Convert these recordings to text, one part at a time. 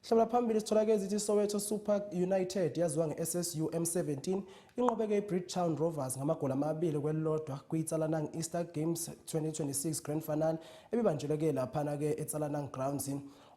Hlabula phambili sithola ke zithi Soweto Super United yaziwa ngeSSU M17 inqobeke iBridgetown Rovers ngamagoli amabili kwelilodwa kwiTsalanang Easter Games 2026 Grand Final ebibanjelwe ke laphana ke eTsalanang Grounds.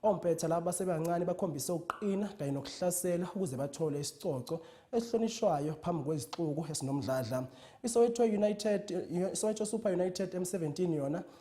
Ompetha laba basebancane bakhombise ukuqina kanye nokuhlasela ukuze bathole isicoco esihlonishwayo phambi kwezixuku esinomdladla. ISoweto United iSoweto Super United M17 yona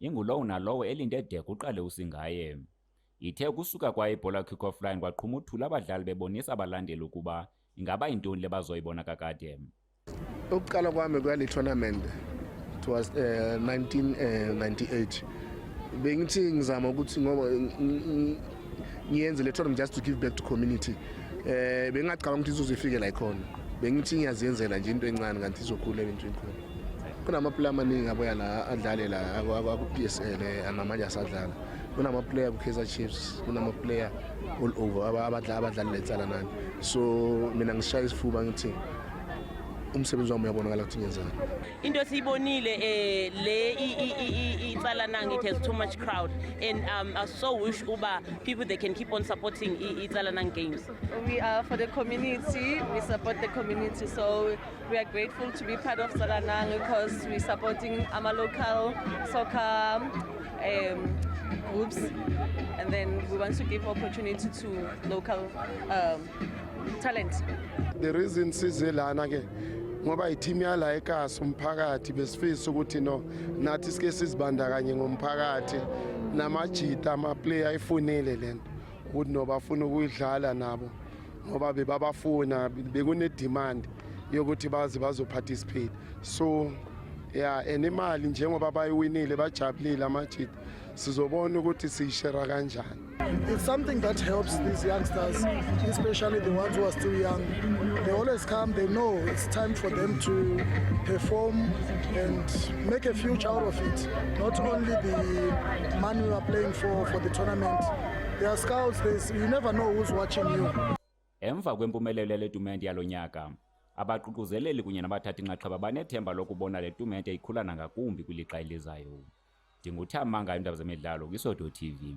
Ingulowo nalowo elinde de kuqale usingaye. Ithe ukusuka kwayo ibhola kickoff line kwaqhuma uthula abadlali bebonisa abalandeli ukuba ingaba yintoni le bazoyibona kakade. Ukuqala kwami kwale tournament it was uh, eh, 1998 eh, bengithi ngizama ukuthi ngoba ngiyenze le tournament just to give back to community eh bengingacabanga ukuthi izozifike la ikhona bengithi ngiyaziyenzela nje into encane kanti izokhula into enkulu kunamaplayer amaningi abuya la adlale la aku-psl eh, namanje asadlala kunamaplayer ku-kaizer chiefs kunamaplayer all over abadlali letsala nani so mina ngishaya isifuba ngithi umsebenzi wami uyabonakala ukuthi ngenzani into esiyibonile eh le itsalana it has too much crowd and um, I so wish uba people they can keep on supporting itsalana games we are for the community we support the community so We are grateful to be part of Salanang because we're supporting our local soccer um, groups and then we want to give opportunity to local um, talent. The reason size lana ke ngoba yithimu yala ekasi umphakathi besifisa ukuthi no nathi sike sizibandakanye ngomphakathi namajita amaplayer ayifunile lento ukuthi nobafuna ukuyidlala nabo ngoba bebabafuna bekunedemand yokuthi baze bazoparticipate so ya and imali njengoba bayiwinile bajabulile amajita sizobona ukuthi siyishera kanjani It's something that helps these youngsters, especially the ones who are still young. They always come, they know it's time for them to perform and make a future out of it. Not only the money we are playing for for the tournament, They are scouts, this. You never know who's watching you. Emva kwempumelelo yale tumente yalo nyaka, abaququzeleli kunye nabathathi nxaxheba banethemba lokubona le tumente ikhula nangakumbi kwilixa elizayo. Ndinguthamanga iindaba zemidlalo kwiSodo TV.